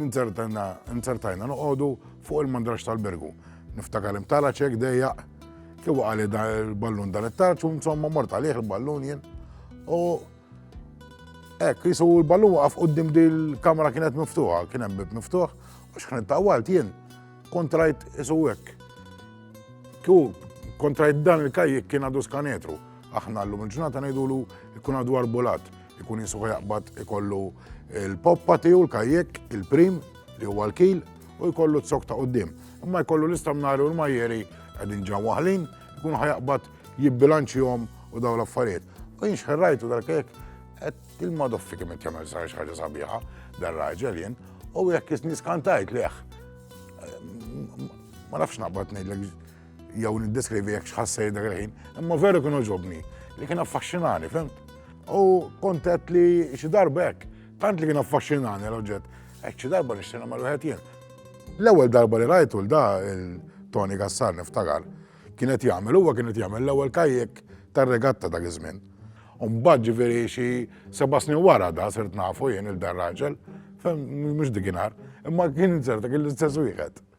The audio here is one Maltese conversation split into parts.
Ninzertajna noqogħdu fuq il-mandrax tal-bergu. Niftakar imtala ċek dejjaq, kif għali dan il-ballun dan it-tarċ, u insomma mort għalih il-ballun jien. U hekk, jisu l-ballun waqaf qudiem dil kamra kienet miftuħa, kien hemm bib miftuħ, u xħan tawalt jien kontrajt isu hekk. Kju kontrajt dan il-kajjek kien għadu skanetru. Aħna l-lum il-ġurnata ngħidulu jkun għadu arbulat. Ikun jisuħ jaqbad ikollu l-poppa tiegħu l-kajjek, il-prim li huwa l-kil u jkollu t-sok ta' qoddim. Imma jkollu l-istamnari u l-majjeri qegħdin ġan waħlin, ikun ħajaqbad jibbilanċihom u daw l-affarijiet. U jien xħerrajtu dal-kajjek qed il-madoffi kemm qed jagħmel sar xi ħaġa sabiħa dar raġel jien u jekk isni skantajt leħ. Ma nafx naqbad ngħidlek jew niddeskrivi jekk xħassej dak il-ħin, imma veru kienu ġobni li kien affaxxinani, fem? U kontet li xi darba hekk, tant li kien affaxxinani l-oġġett, hekk xi darba nixtieq mal wieħed jien. L-ewwel darba li rajtu l-da il-Tony Gassar niftakar, kienet jagħmel huwa kienet jagħmel l-ewwel kajjek tar-regatta dak iż-żmien. Umbagħad ġifieri xi seba' snin wara da sirt nafu jien il-dan raġel, fem mhux dikinhar, imma kien inserta kien l-istess wieħed.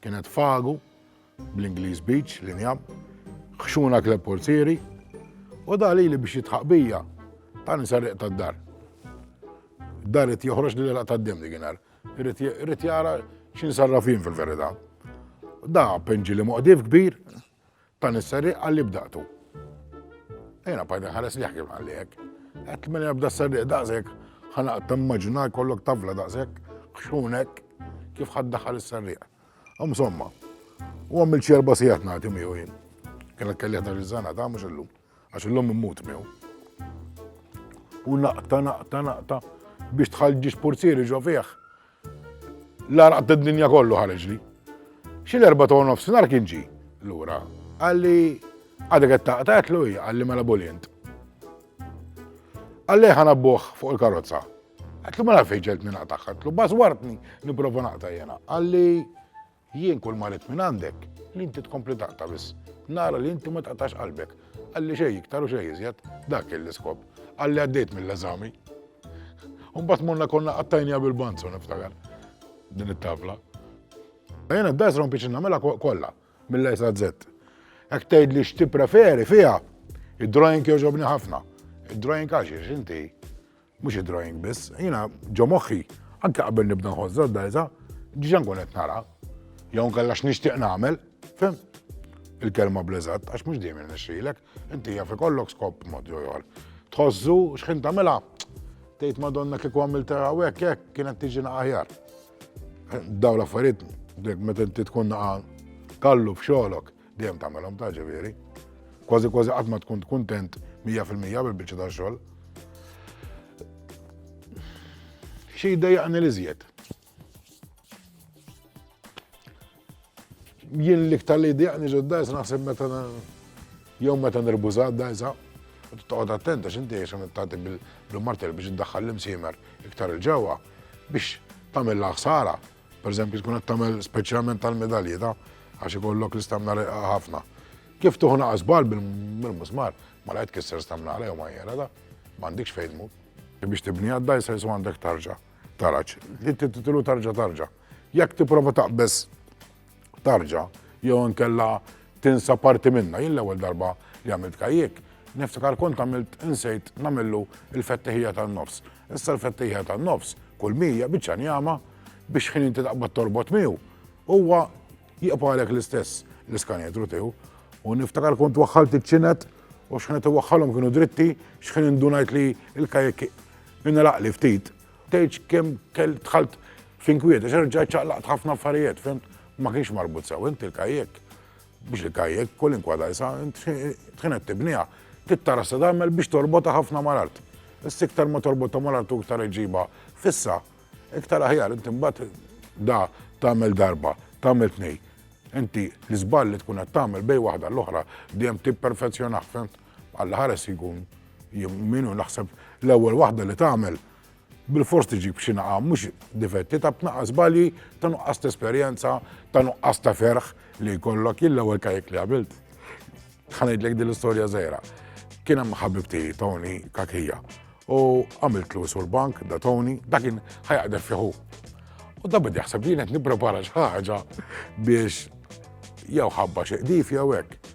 Kienet Fagu, bl-Ingliż Beach, li njab, Ħxuna Club Portieri, u da lili biex jitħaq bija, ta' nisarriq ta' dar. Dar it joħroġ li l-għalaq ta' d-dem diginar. Rrit jara xin sarrafin fil-verita. Da penġi li muqdif kbir, Ta' nis-serrieq għalli bdaqtu. Jiena bqajt inħares lejh kif qalli hekk. Għedt mela bda s-serrieq daqshekk, ħanaq timmaġina jkollok tavla daqshekk, ħxun hekk, kif ħadd daħal is-serrieq. Insomma, u għamil xi erba' sigħat nagħti miegħu jien. Kien kelli ħdax iż-żana ta' mhux illum, għax illum immut miegħu. U naqta, naqta, naqta biex tħallġi xpurzieri ġo fih. L-għaraq tad-dinja kollu ħareġli. Xi l-erba' ta' nofsinhar kien ġie lura. Qalli għadek qed taqta' qedlu hija qalli mela bulint. Qalli ħana buħ fuq il-karozza. Qedlu mela fejn ġeltni naqtagħha, qedlu bażwartni nipprova naqta' jena. Qalli Jien kull ma rrid mingħandek li inti tkompli taqta' biss. Nara li inti ma taqtax qalbek. Qalli xejn iktar u xejn iżjed, dak kien l-iskop. Qalli għaddejt mill-eżami. U mbagħad morna konna qattajniha bil-banzu niftakar din it-tavla. Jiena d-dars rompiċi nagħmilha kollha mill-A sa Z. Hekk tgħidli x'tippreferi fiha, id-drawing jogħġobni ħafna. Id-drawing għax inti Mhux id-drawing biss, jiena ġo moħħi, anke qabel nibda nħoss żażżajża, diġà nkun qed nara. Jew nkella x'nixtieq nagħmel, fem? Il-kelma bleżat, għax mhux dejjem irnexxilek, inti jaf ikollok skop mod jew ieħor. Tħossu x'ħin tagħmilha, tgħid Madonna kieku għamilta hawnhekk hekk kienet tiġi aħjar. Daw l-affarijiet, meta inti tkun naqa' kallu f'xogħlok, Dejjem tagħmelhom ta' ġifieri. Kważi kważi qatt ma tkun kuntent 100% bil-biċċa ta' xogħol. Xi jdejjaqni li żjed. Jien l-iktar li jdejjaqni ġodda jisa naħseb meta jew meta nirbużat da jisa. Toqgħod attenta x'inti jisa tagħti bil-martel biex iddaħħal l-imsiemer iktar il-ġewwa biex tagħmel ħsara Pereżempju tkun qed tagħmel speċjalment tal-medalji ta' għax ikollok l-istamna reqqa ħafna. Kif tuħu naqas bal bil-musmar, ma laqgħet kisser stamna għalej u ma jera da, m'għandikx fejn tmur. Biex tibni għadda jisaj su għandek tarġa, taraċ, li titilu tarġa tarġa. Jekk tipprova taqbeż tarġa jew inkella tinsa parti minna. Jien l-ewwel darba li għamilt kajjek, niftakar kont għamilt insejt namillu il-fettihija tan-nofs. Issa l-fettihija tan-nofs kull mija biċċa njama biex ħin inti taqbad torbot miegħu huwa jieqpa għalek l-istess l-iskanetru tiegħu. U niftakar kont waħħalt iċ-ċinet u xħinet waħħalhom kienu dritti, xħin indunajt li l-kajjek inraqli ftit Tgħidx kemm kell dħalt f'inkwiet, għax rġajt ċaqlaqt ħafna affarijiet, fim? Ma kienx marbut sew, int il-kajjek. Biex il-kajjek, kolinkwa dajsa, int tħinet tibnija, tittara se tagħmel biex torbota ħafna mal-art. Issa iktar ma torbota mal-art u iktar iġiba fissa, iktar aħjar, int imbagħad da tagħmel darba, tagħmel tnej. Inti l-iżball li tkun qed tagħmel bej waħda l-oħra dejjem tipperfezzjonah, fimt? Alla ħares jkun jimminu naħseb l-ewwel waħda li tagħmel bil-fors tiġib xi naqa' mhux difetti ta' tnaqa' żbalji ta' nuqqas ta' esperjenza, ta' nuqqas ta' ferħ li jkollok jien l-ewwel kajk li għamilt. Ħanejdlek din l-istorja żgħira. Kien hemm ħabibti Tony Kakija u għamilt l sur bank da Tony, da kien ħajaqdef fiħu. U da bidi jaħseb li qed nipprepara xi ħaġa biex jew ħabba xi qdif jew hekk.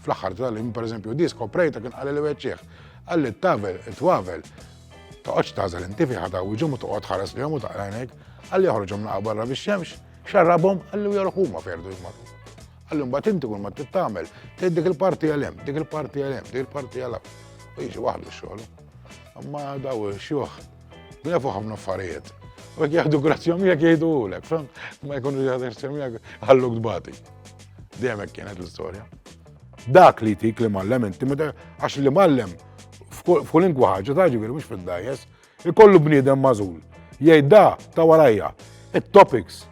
Fl-aħħar tal-im, per eżempju, di skoprejta kien qalli li weċċieħ. Qalli t-tavel, it-twavel, toqgħodx tażel inti fi ħadaw iġhom u toqgħod ħares li u taqrajnek, qalli joħorġhom naqa' barra fix-xemx, xarrabhom, qalli u jorħu ma ferdu jmarru. Qalli mbagħad inti kull ma tittamel, tgħid dik il-parti għal hemm, dik il-parti għal hemm, dik il-parti għal U jiġi waħdu x-xogħol. Imma daw xjuħ Jafu ħafna affarijiet. U jek jahdu grazzja miegħek jgħidu ulek, fem? Ma jkunu jahdu grazzja miegħek ħallu kbati. Dejjem hekk kienet l-istorja. Dak li tik li mallem inti meta għax li mallem f'kull inkwa ħaġa ta' ġifieri mhux fid-dajes, ikollu bniedem mażul. Jgħid da ta' warajja, it-topics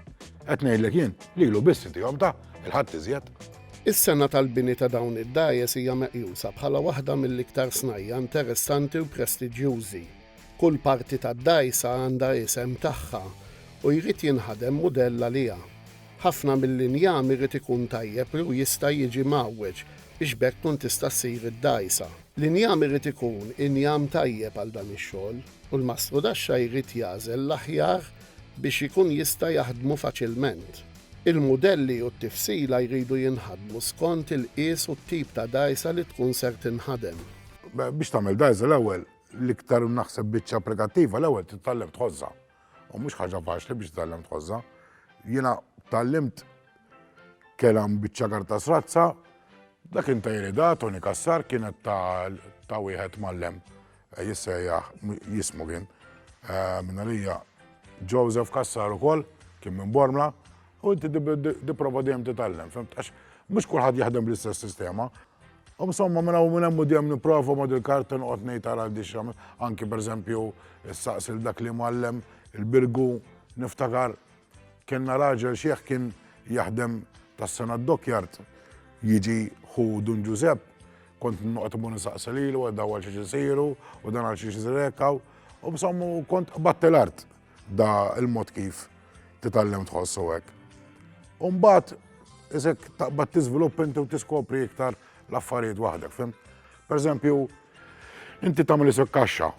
qed ngħidlek jien li lu biss tihom ta' il-ħadd iżjed. Is-sena tal-bini ta' dawn id-dajes hija meqjusa bħala waħda mill-iktar snajja interessanti u prestiġjużi Kull parti tad-dgħajsa għandha isem tagħha u jrid jinħadem mudell għaliha. Ħafna mill-injam irid ikun tajjeb li u jista' jiġi mgħawweġ biex b'hekk tkun tista' ssir id-dgħajsa. L-injam irid ikun injam tajjeb għal dan ix-xogħol u l-mastrudaxxa jrid jagħżel l-aħjar biex ikun jista' jaħdmu faċilment. Il-mudelli u t-tifsila jridu jinħadmu skont il-qies u t-tip ta' dgħajsa li tkun ser tinħadem. Biex tagħmel dgħajsa l-ewwel L-iktar naħseb biċċa applikattiva l-ewwel titgħallem tħożha. U mhux ħaġa faċli biex titgħallem tħożha. Jiena tgħallimt kelam biċċa karta srazza, dak intajri da Tony Kassar kienet ta' wieħed mallem eh, jissejjaħ jismu kien eh, minna lija Joseph Kassar ukoll kien minn Bormla u inti diprova dejjem titgħallem, fimtax mhux kulħadd jaħdem bl-istess sistema. U insomma, minn hawn minn hemm u dejjem nipprova ma' dil-karta noqgħod ngħid ara għandix anki pereżempju issaqsil dak li mgħallem il-Birgu niftakar kellna raġel xiħ kien jaħdem tas-sena d-dockyard jiġi ħu Dun Ġużepp kont noqgħod imur insaqsi lilu għal daw għal xiex isiru u dan għal xiex isir hekk u insomma kont qbadt l-art. Da il-mod kif titgħallem tħossu hekk. U mbagħad isek taqbad tiżvilupp inti u tiskopri iktar l-affarijiet waħdek, fim? Per eżempju, inti tagħmel isek kaxxa,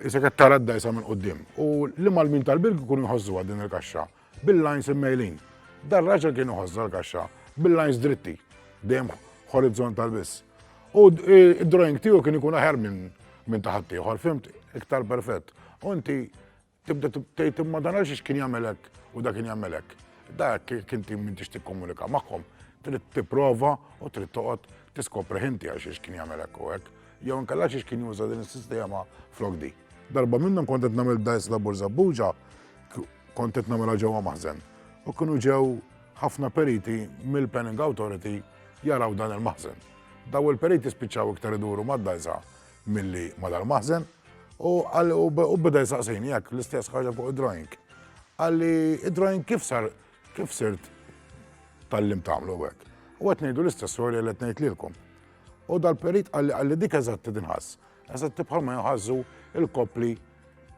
isek qed tara d-dajsa minn qudiem. U li mal-min tal-birg ikun iħossuha din il-kaxxa bil-lines immejlin. Dar raġel kien iħossha l-kaxxa bil-lines dritti, dejjem horizontal biss. U id-drawing tiegħu kien ikun aħjar minn minn taħat ieħor, fimt, iktar perfett. U inti Tibda tgħid imma dan għaliex kien jagħmel hekk u dak kien jagħmel hekk. Dak kien tim m'intix tikkomunika magħhom, trid tipprova u trid toqgħod tiskopri ħinti għal xiex kien jagħmel hekk u hekk. Jew inkella xiex kien juża din is-sistema flok di. Darba minnhom kont qed nagħmel dajs labur żabbuġa, kont qed nagħmilha ġewwa maħżen. U kienu ġew ħafna periti mill-Penning Authority jaraw dan il-maħżen. Daw il-periti spiċċaw iktar iduru mad-dajsa milli madal-maħżen u għalli u beda jisaqsini jekk l-istess ħaġa fuq id-drawing. Għalli id-drawing kif sar kif sirt tal-lim tagħmlu hekk. U qed ngħidu l-istess storja li qed ngħidlilkom. U dal-perit għalli għalli dik eżatti dinħass. Eżatti bħalma jħazzu il-kopli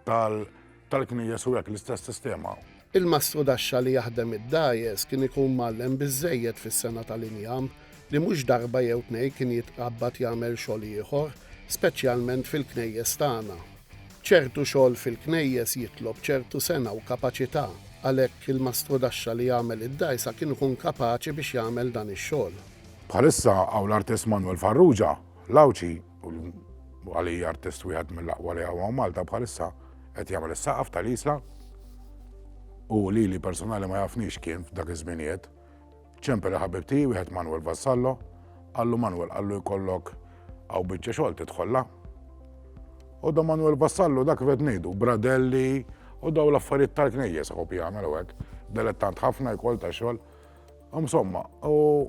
tal-knijes u hekk l-istess sistema. Il-mastru daxxa li jaħdem id-dgħajjes kien ikun mgħallem biżżejjed fis-sengħa tal-injam li mhux darba jew tnejn kien jitqabbad jagħmel xogħol ieħor, speċjalment fil-knejjes tagħna. Ċertu xogħol fil-knejjes jitlob ċertu sengħa u kapaċità, għalhekk il-mastru daxxa li jagħmel id-dgħajsa kien ikun kapaċi biex jagħmel dan ix-xogħol. Bħalissa hawn l-artist Manwel Farrugia, l-Għawdxi, u għalija artist wieħed mill-aqwa li għawa Malta bħalissa qed jagħmel is-saqaf tal-isla u li li personali ma jafnix kien f'dak iż-żminijiet ċempel ħabib tiegħi wieħed Manuel Vassallo għallu Manuel għallu jkollok għaw biċċa xogħol tidħolla. U da Manuel Vassallo dak vet ngħidu bradelli u daw l-affarijiet tal-knejjes u jagħmel hekk. Delettant ħafna jkoll ta' xogħol. Insomma, u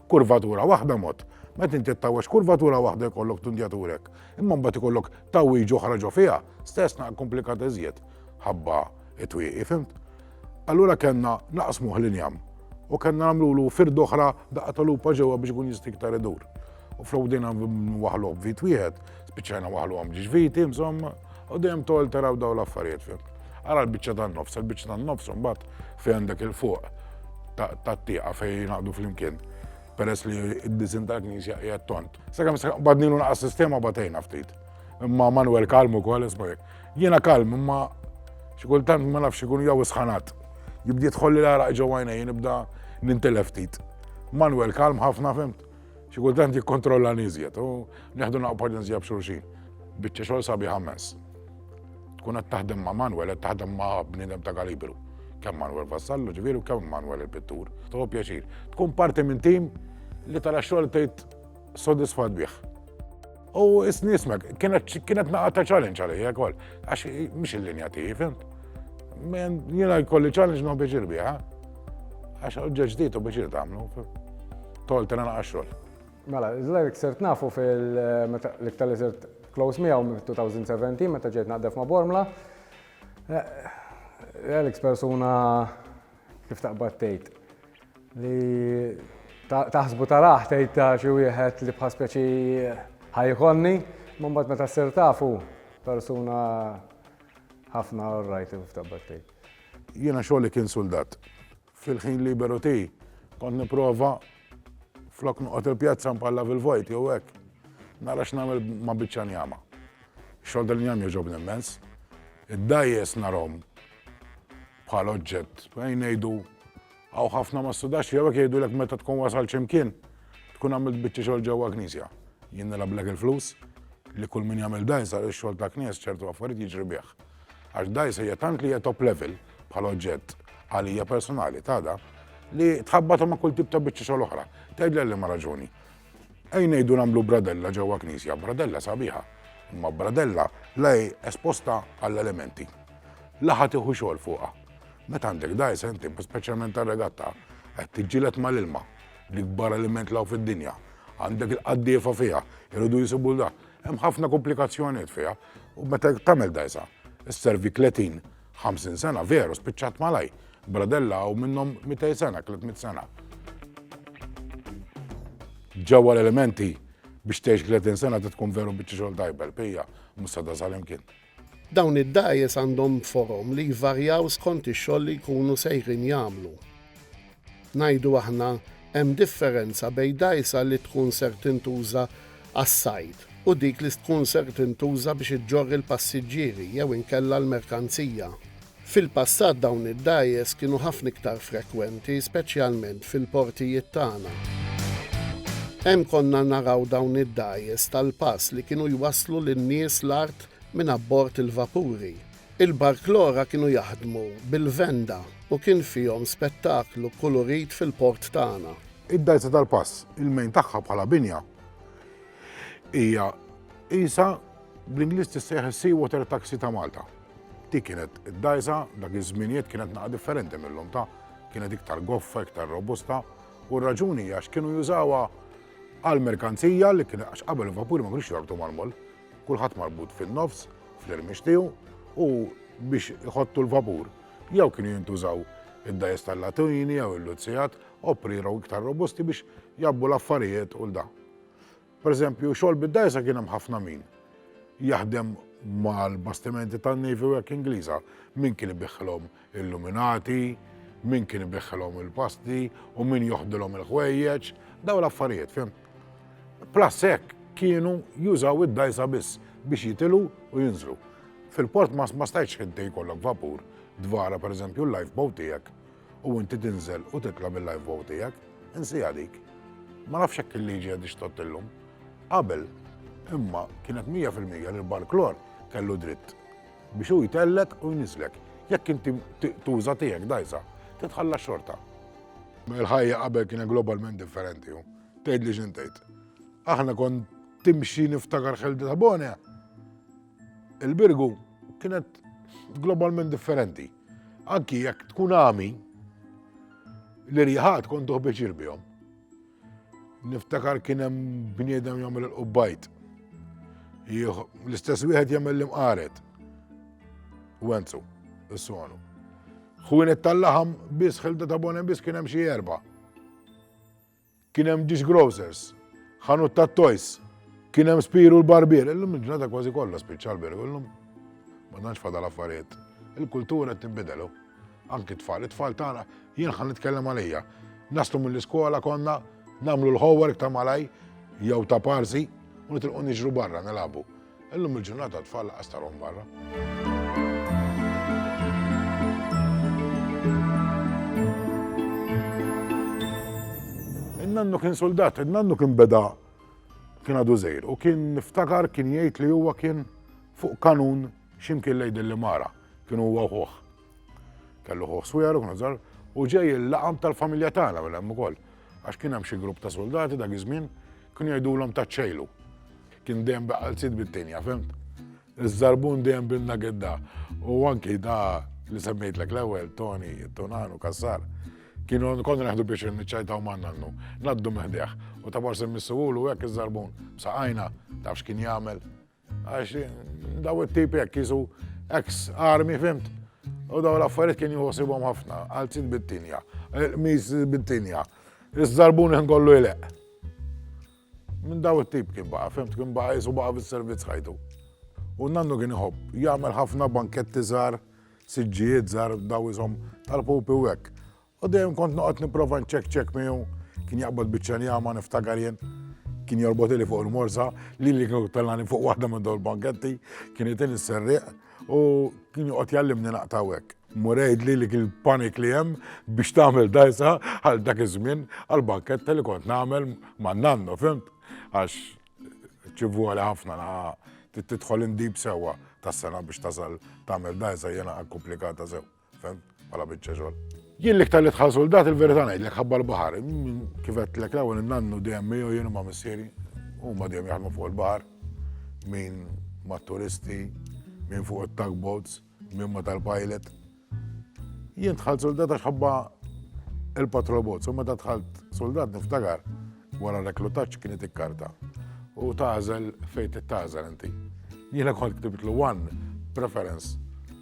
kurvatura waħda mod. Meta inti ttawweġ kurvatura waħda jkollok tundjaturek, imma mbagħad ikollok tawwiġ oħra ġo fiha, stess naq komplikat iżjed ħabba it-twieqi, fimt? Allura kellna naqsmuh l-injam u kellna nagħmlulu fird oħra daqqa tal-lupa ġewwa biex ikun jista' iktar idur. U flok dejna waħlu b'vit wieħed, Spiċċajna waħluhom ġviti, insomma, u dejjem tol taraw daw l-affarijiet fim. Ara l-biċċa tan-nofs, il-biċċa tan-nofs mbagħad fejn għandek il-fuq tat-tieqa fejn jingħaqdu flimkien peress li id-disin tal-knisja qiegħed tont. Sakemm bad nilu naqas sistema batejna ftit. Imma Manuel kalm ukoll isma' jekk. Jiena kalm imma xi kultant ma nafx ikun jew isħanat. Jibdiet ħolli l-għaraq ġewwa jien nibda nintilef ftit. Manuel kalm ħafna fimt. Xi kultant jikkontrolla niżjed u neħdu naqgħu paġenzja b'xulxin. Biċċa xogħol sabi ħammens. Tkun qed taħdem ma' Manuel qed taħdem ma' bniedem ta' kalibru. Kemm Manuel Vassallo ġifieri u kemm Manuel il-pittur. Toħob pjaċir. Tkun parti minn tim li tara xogħol tgħid sodisfat bih. U s-nismek, kienet naqqa ta' challenge għalija kol, għax mux il-linja tiegħi, fimt? Jena jkolli challenge non biex irbiħa, għax oġġeġ dit u biex irtamlu, tol tena naqqa xol. Mela, l-għalik sirt nafu fil-iktar li sirt close miegħu minn 2017 meta ġejt naqdef ma' Bormla. Alex persuna Kif taqbad tgħid li taħsbu taraħ tgħid ta' xi wieħed li bħal speċi ħajkonni, ma mbagħad meta ssir tafu persuna ħafna rajt kif taqbad tgħid. Jiena xogħli kien suldat. Fil-ħin liberu ti kont nipprova flok noqgħod il-pjazza mpalla fil-vojt jew hekk. Nara x'nagħmel ma' biċċa njama. Xogħol dal-njam jogħġobni immens. Id-dajjes narhom bħala oġġett. Fejn ngħidu hawn ħafna ma studax jew hekk jgħidulek meta tkun wasal xi mkien tkun għamilt biċċa xogħol ġewwa knisja. Jien nilablek il-flus li kull min jagħmel dajs għal ix-xogħol ta' knies ċertu affarijiet jiġri bih. Għax dajs hija tant li hija top level bħala oġġett għalija personali tada li tħabbatu ma' kull tip ta' biċċa xogħol oħra. Tgħidli li ma raġuni. Ej ngħidu nagħmlu bradella ġewwa knisja, bradella sabiħa, imma bradella la hi esposta għall-elementi, la ħa tieħu xogħol fuqha. Meta għandek dgħajsa inti, speċjalment tar-regatta, qed tiġġieled mal-ilma, l-ikbar element law fid-dinja, għandek il-qaddiefa fiha, iridu jisibu da. Hemm ħafna komplikazzjonijiet fiha u meta tagħmel dgħajsa, isservi 30 Ħamsin sena, veru, spiċċat malaj. Bradella hawn minnhom mitej sena, tliet mit sena. Ġewwa l-elementi biex tgħix 30 sena tkun veru biċċi xogħol tajbel, pija, mhux sa dasal imkien. Dawn id-dajes għandhom forom li jvarjaw skont ix-xogħol li jkunu sejrin jagħmlu. Ngħidu aħna, hemm differenza bejn dgħajsa li tkun ser tintuża għas-sajd u dik li tkun ser tintuża biex iġġorr il-passiġġieri jew inkella l-merkanzija. Fil-passat dawn id-dgħajjes kienu ħafna iktar frekwenti, speċjalment fil-portijiet tagħna. Hemm konna naraw dawn id-dgħajjes tal-pass li kienu jwasslu lin-nies l-art minn abbord il-vapuri. Il-Barklora kienu jaħdmu bil-venda u kien fihom spettaklu kulurit fil-port tagħna. Id-Dgħajsa tal-Pass, il-mejn tagħha bħala binja hija qisha bl-Ingliż tissejjaħ is-Sea Water Taxi ta' Malta. Dik kienet id-dgħajsa dak iż-żminijiet kienet naqa' differenti mill-lum ta' kienet iktar goffa, iktar robusta u r-raġuni hija x'kienu jużawha għall-merkanzija li kien għax qabel il-vapuri ma kienux jorbtu mal-moll. Kulħadd marbut fin-nofs fl-irmix tiegħu u biex iħottu l-vapur jew kienu jintużaw id-dajes tal-latini jew il-luzzijat opriru iktar robusti biex jabbu l-affarijiet u l-da. Per eżempju, xogħol bid-dajsa kien hemm ħafna min jaħdem mal-bastimenti tan-Navy u hekk Ingliża min kien ibiħħlhom Illuminati, min kien ibiħħilhom il-pasti u min joħdilhom il-ħwejjeġ, daw l-affarijiet, fim. Plus hekk kienu jużaw id-dajsa biss biex jitilu u jinżlu. Fil-port ma stajtx inti jkollok vapur dvara per eżempju l-lifeboat tiegħek u inti tinżel u titla' bil-lifeboat tiegħek, insija dik. Ma nafx hekk il-liġi għad ixtott illum. Qabel, imma kienet 100% li l-barklor kellu dritt Biex hu jtellgħek u jniżżlek. Jekk inti tuża tiegħek dgħajsa, titħalla xorta. Ma l-ħajja qabel kienet globalment differenti hu. Tgħid li x'in tgħid. Aħna kon timxi niftakar ħeldi ta' Bonja. Il-birgu kienet globalment differenti. Anki jekk tkun għami, l-irjaħat kont tuħbeċir bihom. Niftakar kien hemm bniedem jagħmel il-qubbajt. L-istess wieħed jagħmel l-imqaret. Wenzu, is-sonu. Ħwienet tal-laħam biss ħilda ta' bonem biss kien hemm xi erba'. Kien hemm dish grocers, ħanut ta' toys, kien hemm spiru l-barbier, illum il-ġurnata kważi kollha spiċċa l-beru, illum ma nantx fadal affarijiet. Il-kultura qed tinbidelu. Anki tfal, it-tfal tagħna jien ħan nitkellem għalija. Nastu mill-iskola konna nagħmlu l-homework ta' malaj jew ta' parsi u nitilqu niġru barra nilagħbu. Illum il-ġurnata tfal laqas tarhom barra. nannu kien soldat, nannu kien beda kien għadu zejr u kien niftakar kien jgħid li huwa kien fuq kanun X'imkien lejn din l-imara, kien huwa u ħuh. Kellu ħuh swiegħer u kienu żgħar u ġej il-laqam tal-familja tagħna minn hemm ukoll. Għax kien hemm xi grupp ta' suldati dak iż-żmien kienu jgħidulhom taċċejlu. Kien dejjem bi qalziet bid-dinja, fimt? Iż-żarbun dejjem binna gidda u anki da li semmejtlek l-ewwel, Toni, Tunan u Kassar. Kienu konna neħdu biex niċċajtaw ma' nannu, naddu meħdeħ u ta' forsi missugħulu hekk iż-żarbun b'saqajna tafx kien jagħmel. Għax daw it-tipi hekk jisu ex armi fimt. U daw l-affarijiet kien jħossibhom ħafna, għalzit bit-tinja, mis bit-tinja. Iż-żarbun kien kollu jleq. Minn daw it-tip kien baqa, fimt kien baqa jisu baqa bis-servizz ħajtu. U nannu kien iħobb, jagħmel ħafna banketti żgħar, siġġijiet żgħar daw isom tal-pupi u hekk. U dejjem kont noqgħod nipprova nċekċek miegħu, kien jaqbad biċċa njama niftakar jien. Kien jorbot li fuq il-morsa, li li kien tellani fuq waħda minn dawn banketti, kien jitil is-serriq u kien joqgħod jallimni naqtaw hekk. Murejd li li kien panik li hemm biex tagħmel dajsa għal dak iż-żmien għal banketta li kont nagħmel ma' nannu, fimt? Għax ċivu għal ħafna titħol indib sewwa tas-sena biex tasal tagħmel dajsa jena komplikata sew. Fem, bħala biċċa xogħol. Jien l-iktar li tħall soldat il-verità ngħidlek ħabba l-baħar. Kif qed lek l-ewwel innannu dejjem miegħu jien ma' missieri. Huma dejjem jaħdmu fuq il-baħar. Min ma' turisti, min fuq it-tugboats, min ma' tal-pilot. Jien tħall soldat għax ħabba il-patrol boats. U meta tħallt soldat niftakar wara reklutaċ kienet ikkarta. U tażel fejn tażel inti. Jiena kont ktibtlu one preference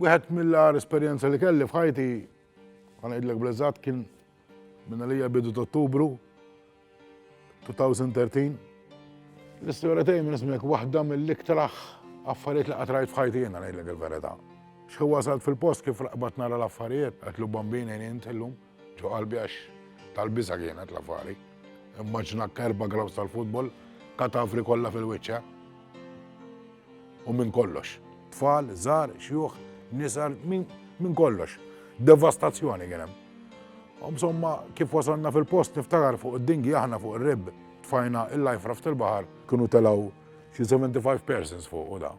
Wieħed mill-agħar esperjenza li kelli f'ħajti, għan għidlek blezzat, kien minna li bidu t-ottubru 2013. L-istoria tiegħi minn ismek waħda mill-iktraħ affarijiet li qatrajt f'ħajti jena għan għidlek il-verita. Xħu wasalt fil-post kif raqbat nara l-affarijiet, għatlu bambina jeni intillum. Ġo qalbi għax tal-biża' kienet l-affari. Immaġina kerba grounds tal-futbol, katavri kollha fil-wiċċ, eh? U minn kollox. Tfal, żgħar, xjuħ, nisar, minn kollox. Devastazzjoni kien hemm. Insomma, kif wasalna fil-post niftakar fuq id-dingi aħna fuq ir-rib tfajna il-life raft il-baħar kienu telaw xi 75 persons fuq u da.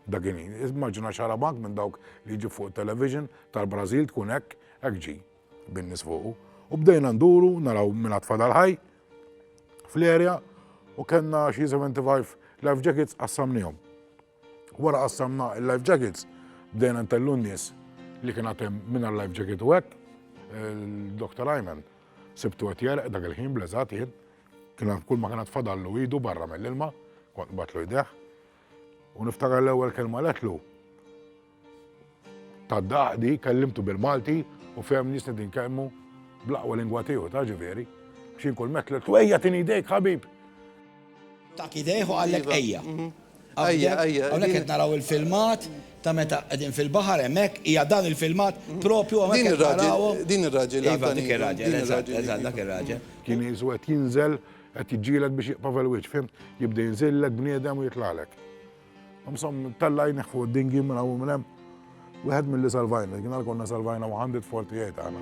Dakin, immaġina xarabank minn dawk li ġi fuq television tal-Brażil tkun hekk Hekk ġie bin-nies fuqu u bdejna nduru naraw min għad fadal ħaj fl-area u kellna xi 75 life jackets qassamnihom. Wara qassamna il-life jackets bdejna ntellu n-nies li kien għad hemm mingħajr life jacket u hekk il-Dr. Ayman sibtu qed jerq dak il-ħin bleżat jien kien kull ma kien għad fadallu idu barra mill-ilma kont nbatlu jdejh u niftakar l-ewwel kelma letlu Tad-Daqdi kellimtu bil-Malti u fehemni jista' din kelmu bl-aqwa lingwa tiegħu ta' ġifieri, biex jien kull mett tliltu ejja tini jdejk ħabib! Dak idejh u qallek ejja. Ejja, ejja. Hawnhekk qed naraw il-filmat ta' meta qegħdin fil-baħar hemmhekk, hija dan il-filmat propju hawnhekk qed narawhom. Din ir-raġel, din ir-raġel. Iva, dik ir-raġel, eżatt, eżatt, dak ir-raġel. Kien qisu qed jinżel, qed jiġġieled biex jieqpa' fil-wiċċ, fhimt? Jibda jinżillek bniedem u jitlagħlek. Msom, tella jneħħu d-dingi minn hawn minn hemm. Wieħed milli salvajna, kien konna salvajna waħandi t-tfal tiegħi tagħna.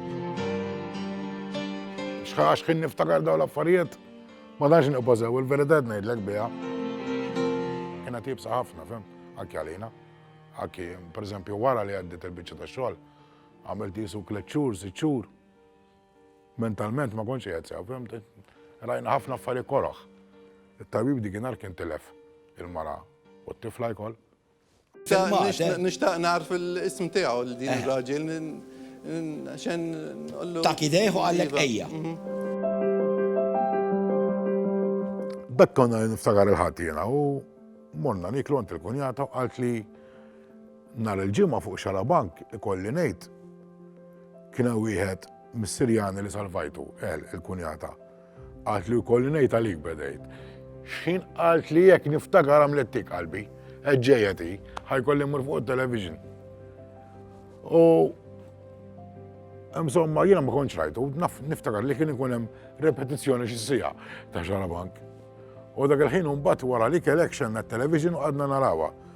Xħax kien niftakar dawn l-affarijiet, ma danx nibbażew il-verità ngħidlek biha. Kiena tibsa ħafna, fem, anke għalina. Anke, per eżempju, wara li għaddit il-biċċa ta' xogħol, għamilt jisu kleċċur, siċċur. Mentalment ma kontx qiegħed sew, fimti? Rajna ħafna affarijiet koroh. It-tabib dik nhar kien tilef il-mara u t-tifla jkoll. Nixtaq nagħrf l-ism tiegħu l din ir-raġel xen nqollu. Tak idejh u qallek ejja. B'hekk konna niftakar il-Ħadd jiena u morna niklu għand il-kunjata u qalt li Nhar il-Ġimgħa fuq Xarabank, ikolli ngħid, kien hemm wieħed mis-Sirjani li salvajtu, El, il-kunjata. Qaltli jkolli ngħid għalik bedejt. X'ħin qalt li jekk niftakar għamlet tik qalbi, qed ġejja ti, ħajkolli mmur fuq it-television. U Insomma, jiena ma kontx rajtu, niftakar li kien ikun hemm repetizzjoni xi sija ta' Xarabank. U dak il-ħin mbagħad wara li kelek xenna t-television u għadna narawha.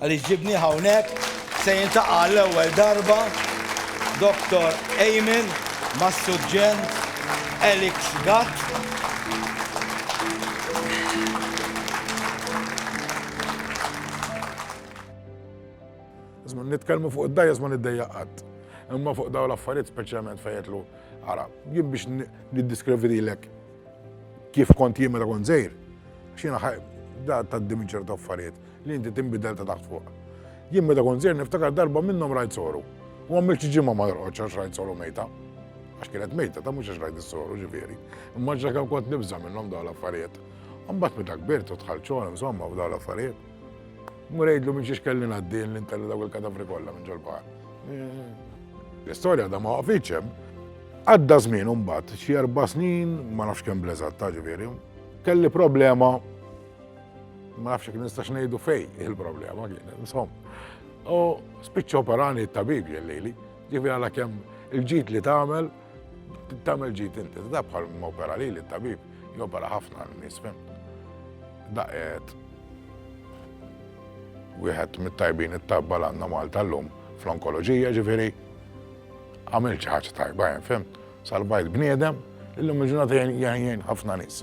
Għaliex ġibnieh hawnhekk, se jiltaqa' għall-ewwel darba Dottor Eamon mas-Suġġent Alex Gatt. Nitkellmu fuq id-dgħajjes ma niddejjaq qatt. Imma fuq dawn l-affarijiet speċjalment fejn jgħidlu ara, jien biex niddiskrivi lilek kif kont jien meta kont żgħir, x'jiena ħaj da tgħaddi minn ċertu affarijiet. Li inti tinbidel ta' taħt fuq. Jien meta kont żgħir niftakar darba minnhom rajt soru. U għamilt xi ġimgħa ma norqodx għax rajt soru mejta. Għax kienet mejta ta' mhux għax rajt is-soru ġifieri. Imma x'akemm kont nibża' minnhom dawn l-affarijiet. Imbagħad meta kbirt u dħalt xogħol insomma f'dawn l-affarijiet. Mur għidlu minn xiex kelli ngħaddi li ntelli dawk il-kadavri kollha minn ġol-baħar. L-istorja da ma waqfitx hemm. Għadda żmien imbagħad, xi erba' snin, ma nafx kemm bl-eżatt, ġifieri, kelli problema Ma nafx jekk nistax ngħidu fej il-problema kien, insom. U spiċċa operani t-tabib ġellili, ġifi għala kemm il-ġid li tagħmel, tagħmel ġid inti. Da bħal ma opera li l-tabib, jopera ħafna l-nies fem. Daqet wieħed mit-tajbin it-tabba l-għandna Malta l-lum fl-onkoloġija ġifieri għamil ħaġa tajba, fem. Salva il-bniedem, illum il-ġurnata jgħin ħafna nies.